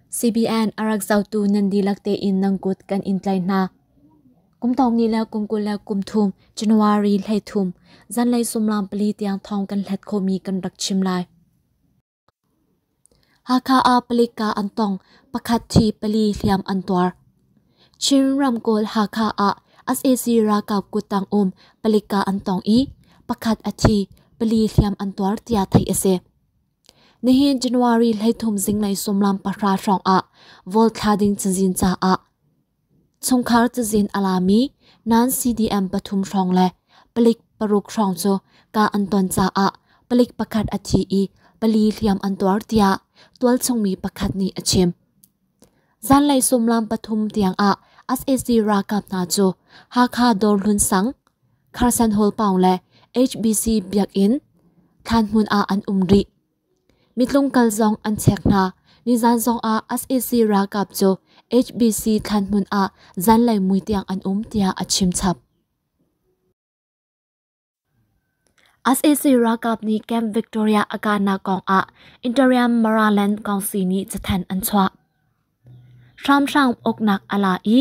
CBN a rak zohtu nan dihlak tein nan kut kan in tlai hna. Kum tawng ni le kum kul le kum thum January hlei thum zanlei sumlam pali tiang thawng kan hlat khomi kan rak chim lai. Hakha ah palik ka an tong pakhat thi pali hliam an tuar. Chin ramkawl Hakha ah SAC ralkap kutang um palik ka an tong i pakhat a thi pali hliam an tuar tiah theih a si. Nihin January hleithum zinglei sumlam pahra hrawng ah Vaul thla ding cazin caah chungkhar cazin a lami nan CDM pathum hrawng le palik paruk hrawng cu ka an ton caah palik pakhat a thi i pali hliam an tuar tiah tualchungmi pakhat nih a chim. Zanlei sumlam pathum tiangah sac ralkap hna cu Hakha Dawr Hlun Sang, Kharsan Hall pawng le HBC biakinn, thlanhmun ah an um rih. Mitlung kal zong an chek hna. Nizan zongah sac ralkap cu HBC thlanhmun ah zanlei mui tiang an um tiah a chimchap. sac ralkap nih camp victoria a kahnak kongah interim maraland council nih cathanh an chuah hramhram uknak a la i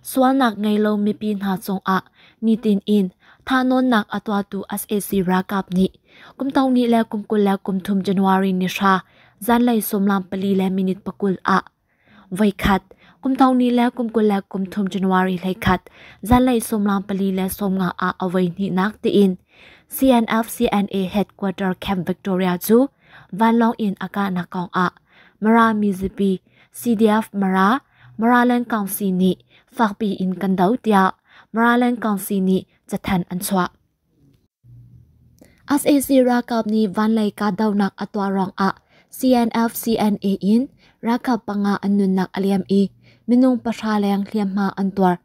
sualnak ngei lo mipi hna cungah nitin in thahnawnnak a tuahtu sac ralkap nih kumtong ni le kumkul le kumthum january ni hra zanlei sawmlam pali le minute pakul ah Voikhat kumthong ni le kumkul le kumthum January hleikhat zanlei sawmlang pali le sawmnga ah a voi hnihnak tiin CNF CNA headquarter camp Victoria cu vanlawng in a kahnak kong ah Mara mizapi CDF Mara Maraland Council nih fakpi in kan do tiah Maraland Council nih cathan an chuah. sac ralkap nih vanlei kahdohnak a tuah ruangah CNF-CNA in ralkap panga an nunnak a liam i minung pahra leng hliamhma an tuar.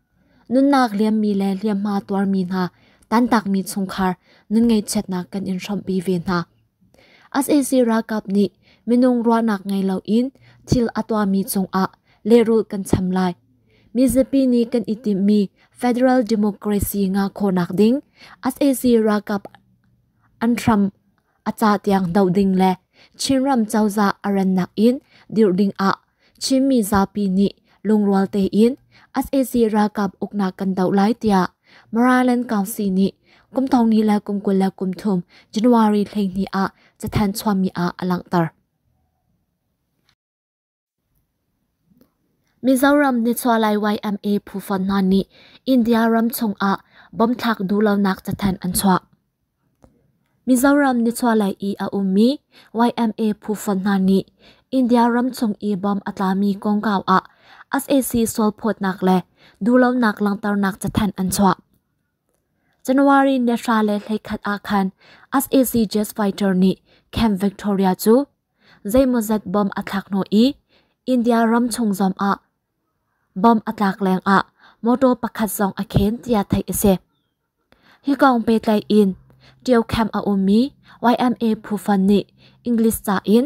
nunnak liammi le hliamhma tuarmi hna tantakmi chungkhar nun ngaihchiatnak kan in hrawmhpi ve hna. sac ralkap nih minung ruahnak ngei loin thil a tuahmi cungah lehrul kan cham lai. Mizapi nih kan i timhmi federal democracy ngakawnak ding sac ralkap an hram a cah tiang doh ding le Chinram cozah a rannak in dirh ding ah Chinmi zapi nih lungrual tein SAC ralkap uknak kan doh lai tiah Maraland Council nih kum thongni le kum kul le kum thum January thlenghni ah cathan chuahmi ah a langhter. Mizoram Nitsualai YMA phu fon hna nih India ram chung ah bomb thlak duhlonak cathan an chuah. Mizoram nichuahlei i a ummi YMA phufa hna nih India ramchung i bomb a tlami kongkau ah sac sualphawtnak le duhlonak langhternak cathanh an chuah. January ni hra le hleikhat ah khan sac jet fighter nih Camp Victoria cu zeimawzat bomb a thlak hnu i India ramchung zong ah bomb a tlak lengah motor pakhat zong a khen tiah theih a si. Hi kong petlai in ṭio khamp a ummi YMA phufan nih English ca in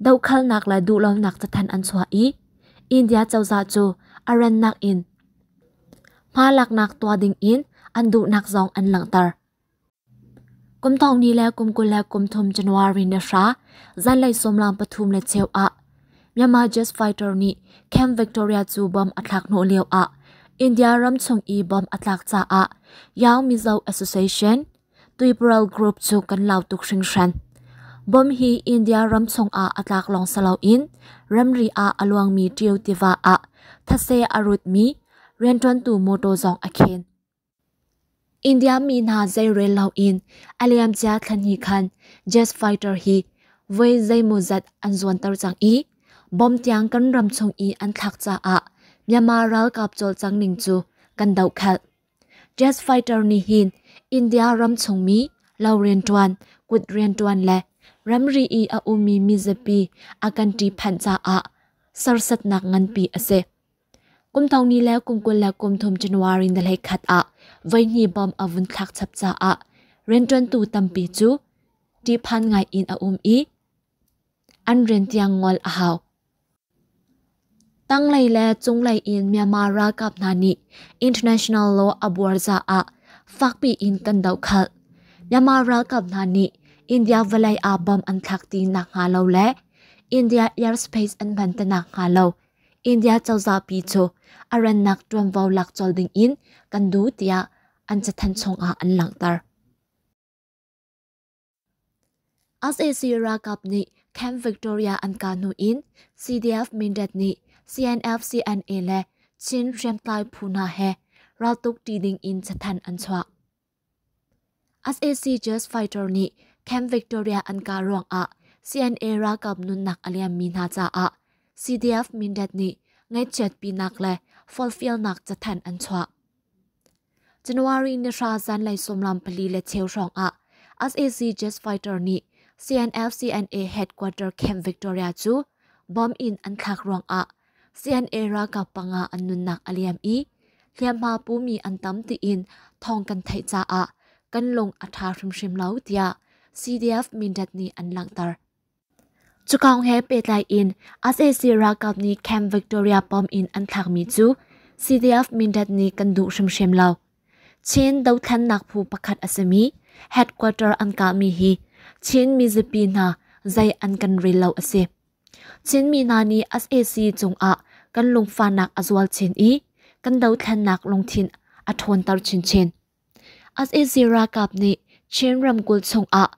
dohkalnak le duhlonak cathan an chuah i India cozah cu a rannak in hma laknak tuah ding in an duhnak zong an langhter. Kum thongni le kum kul le kum thum January ni hra zanlei sawmlang pathum le cheu ah Myanmar Jazz fighter nih Camp Victoria cu bomb a thlak hnawh lio ah India ram chung i bomb a tlak caah Yao Mizo Association Tuiparaw Group cu kan lau tuk hringhran. Bomb hi India ram chung ah a tlak lawng silo in ramri ah a luangmi Tio tiva ah thase a rutmi rianṭuantu mawṭaw zong a khen. India mi hna zeirel loin a liamcia thlanhnih khan jazz fighter hi voi zeimawzat an zuanter cang i bom tiang kan ram chung i an thlak caah Myanmar ralkap cawlcang ning cu kan dohkhelh. Jazz fighter nih hin India ram chungmi lo rianṭuan, kut rianṭuan le ramri i a ummi mizapi a kan ṭihphanh caah sersatnak nganpi a si. Kumthong ni le kum kul le kum thum January na lei khat ah voihni bom a vun thlak chap caah rianṭuantu tampi cu ṭihphan ngai in a um i an rian tiang ngol a hau. Tanglei le cunglei in Myanmar ralkap hna nih international law a buarza ah fakpi in kan doh khalh. Myanmar ralkap hna nih India vawlei ah bom an thlak ti nak hnga lo le India airspace an hman te nak hnga lo India cozah pi cu a rannak ṭuanvo lak colh dingin kan duh tiah an cathanh chungah an langhter. SAC ralkap nih Camp Victoria an ka hnu in CDF Mindat nih CNF-CNA le Chin hriamtlai phu hna he raltuk ṭi ding in cathanh an chuah. sac jazz fighter nih camp victoria an ka ruang ah cna ralkap nunnak a liammi hna caah cdf mindat nih ngaihchiatpinak le forfialnak cathanh an chuah january ni hra zanlei sawmlam pali le cheu hrawng ah sac jazz fighter nih cnf cna headquarter camp victoria cu bomb in an thlak ruang ah CNA ralkap pangah an nunnak a liam i hliamhma pumi an tam tiin thawng kan theih caah kan lung a ṭha hrimhrim lo tiah CDF Mindat nih an langhter. Cukong he pehtlai in SAC ralkap nih Camp Victoria pom in an thlakmi cu CDF Mindat nih kan duh hrimhrim lo. Chin dothlannak phu pakhat a simi headquarter an kahmi hi Chin mizapi hna zei an kan rel lo a si. Chinmi hna nih sac cungah kan lungfahnak a zual chin i kan dothlennak lungthin a ṭhawnter chinchin. sac ralkap nih Chin ramkulh chungah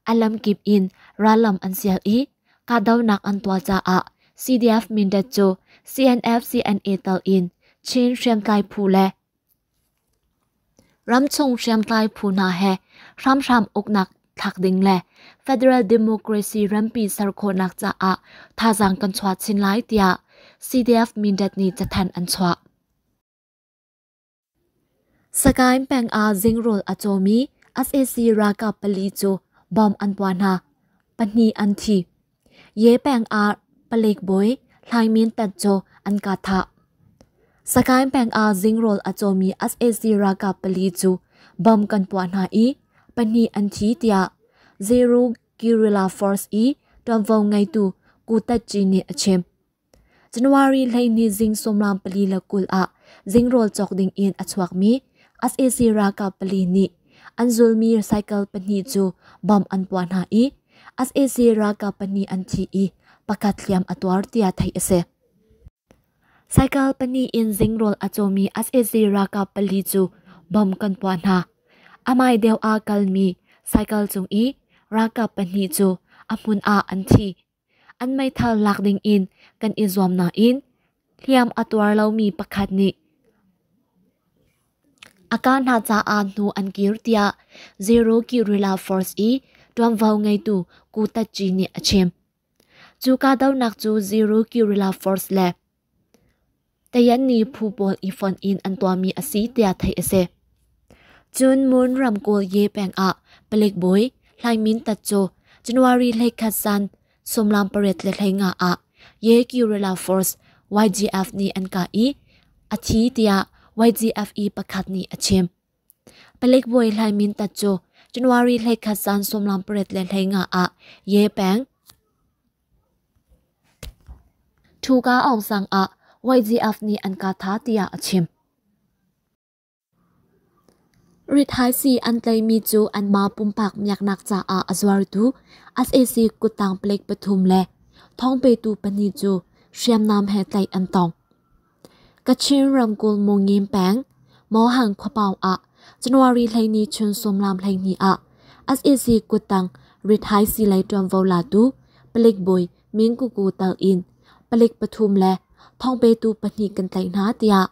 a lamkip in rallam an sial i kahdohnak an tuah caah CDF Mindat cu CNF-CNA tal in Chin hriamtlai phu le Ramchung hriamtlai phu hna he hramhram uknak thlak ding le federal democracy rempi ser khawhnak caah thazaang kan chuah chin lai tiah CDF-Mindat nih cathanh an chuah. Sakaing peng ah zingrawl a cawmi SAC ralkap pali cu bom an puah hna. Pahnih an thi. Ye peng ah palik bawi Hlaing Min Tat cu an ka thah. Sakain peng ah zingrawl a cawmi SAC ralkap pali cu bom kan puah hna i pahnih an thi tiah Zeru Guerrilla Force i ṭuanvo ngeitu Ku Tat Ci nih a chim. January hleihnih zing sawmlam pali le kul ah zing rawl cawk ding in a chuakmi SAC ralkap pali nih an zulmi cycle pahnih cu bom an puah hna i SAC ralkap pahnih an thi i pakhat hliam a tuar tiah theih a si. Cycle pahnih in zing rawl a cawmi SAC ralkap pali cu bom kan puah hna. Amai deuh ah kalmi cycle cung i ralkap pahnih cu a hmun ah an thi. an meithal lak ding in kan i zuam nain hliam a tuar lomi pakhat nih a ka hna caah hnu an kir tiah zero guerrilla force i ṭuanvo ngeitu Ku Tatci nih a chim. Cu kahdohnak cu zero guerrilla force le Tayan nih phu pawl i fonh in an tuahmi a si tiah theih a si. Cun Mun ramkulh ye peng ah palik bawi Hlai Min Tat cu January hleikhat san sawmlam pariat le hlei nga ah ye guerrilla force YGF nih an kah i a thi tiah YGFE pakhat nih a chim. Palik bawi Hlai Min Tat cu January hleikhat san sawmlam pariat le hlei nga ah ye peng Thuka awngsang ah YGF nih an ka tha tiah a chim. Rithaisi an tlaimi cu anmah pumpak miaknak caah a zuartu sac kuttang plate pathum le thawng petu pahnih cu hriamnam he tlaih an tong. Kachin ramkulh Mungin peng Mohang khuapawng ah January hleini chun sawmlam hleihnih ah SAC kuttang rithaisi lei ṭuanvo latu palik bawi Min Kuku tang in palik pathum le thawngpetu pahnih kan tlaih hna tiah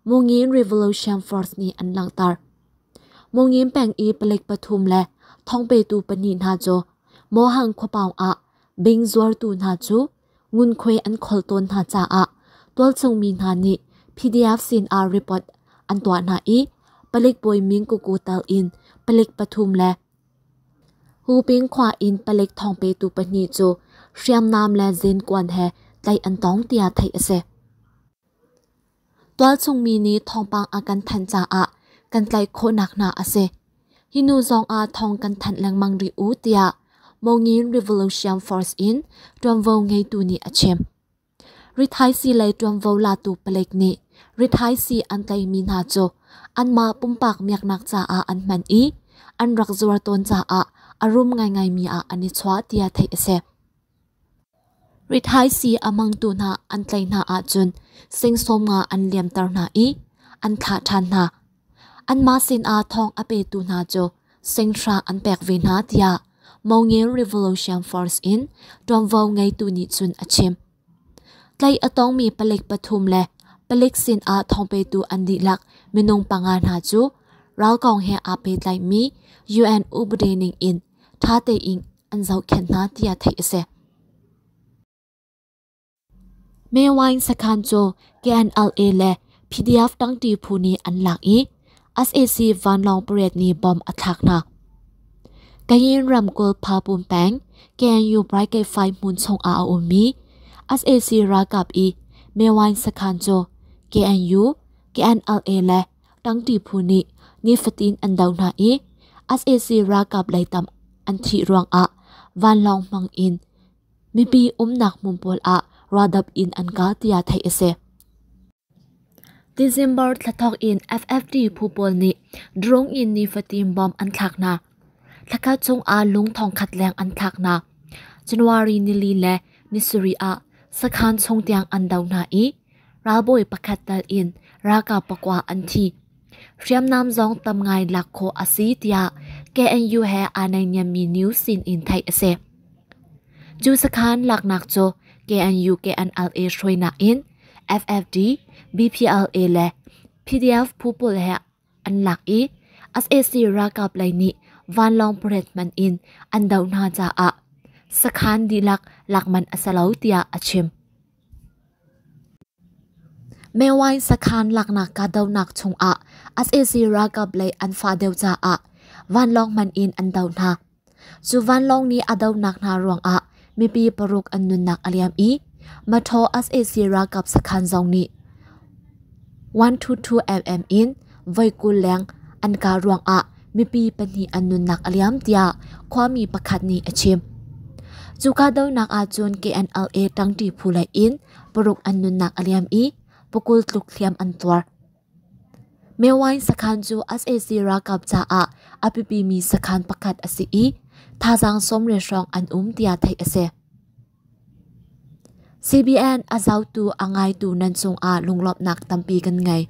Mungin Revolution Force nih an langhter. Mungin peng i palik pathum le thawngpetu pahnih hna cu Mohang khuapawng ah bing zuartu hna cu ngunkhuai an khol tawn hna caah tualchungmi hna nih PDF sin ah report an tuah hna i palik Pawiming Kuku tal in palik pathum le Huping khua in palik thawng petu pahnih cu hriamnam le zenkuan he tlaih an tong tiah theih a si. Tualchungmi nih thawngpang a kan thanh caah kan tlaih khawhnak hna a si. Hi nu zong ah thawng kan thanh lengmang rih u tiah Mongin Revolution Force in ṭuanvo ngeitu nih a chim. Rithaisi lei ṭuanvo latu palek nih rithaisi an tlaihmi hna cu anmah pumpak miaknak caah an hman i an rak zuar tawn caah a rum ngaingaimi ah an i chuah tiah theih a si. Rithaisii a mangtu hna an tlaih hna ahcun sengsawm nga an liamter hna i an thlah ṭhan hna. Anmah sinah thawng a petu hna cu senghra an pek ve hna tiah Mongil Revolution Force in ṭuanvo ngeitu nih cun a chim. Tlaih a tongmi palik pathum le palik sinah thawng petu an dihlak minung panga hna cu ralkong he aa pehtlaimi UN upade ning in ṭha tein an zohkhenh hna tiah theih a si. Mae Wine sakhan cu KNLA le PDF tangti phu nih an lak i SAC vanlawng pariat nih bom a thlak hna. Kayin ramkulh Phapum peng KNU Brigade 5 hmun chung ah a ummi SAC ralkap i Mae Wine sakhan cu KNU, KNLA le Tangti phu nih nifatin an do hna i sac ralkap leitam an thih ruangah vanlawng hmang in mipi umnak hmun pawl ah raldap in an kah tiah theih a si. December thla thawk in FFT phu pawl nih drone in nifatin bomb an thlak hna. Thlakhat chungah lung thongkhat leng an thlaknak January nili le nisari ah sakhan chung tiang an do hna i ralbawi pakhat tal in ralkap pakwa an thi. Hriamnam zong tam ngai lak khawh a si tiah KNU he aa naihniammi news sin in theih a si. Cu sakhan laknak cu KNU KNLA hruainak in FFD, BPLA le PDF pupul he An lak i sac ralkap lei nih vanlawng parade hman in an doh hna caah sakhan dihlak lak manh a si lo tiah a chim. Mewine sakhan laknak kahdohnak chungah sac ralkap lei an fah deuh caah vanlawng hman in an doh hna. Cu vanlawng nih a donak hna ruangah mipi paruk an nunnak a liam i Mathaw sac ralkap sakhan zong nih 122mm in voikul leng an kah ruangah mipi pahnih an nunnak a liam tiah khuami pakhat nih a chim. Cu kahdohnak ahcun KNLA tangti phu lei in paruk an nunnak a liam i pakul tluk hliam an tuar. Mewine sakhan cu sac ralkap caah a biapimi sakhan pakhat a si i thazaang sawmre hrawng an um tiah theih a si. CBN a zotu a ngaitu nan cungah lunglawmhnak tampi kan ngei.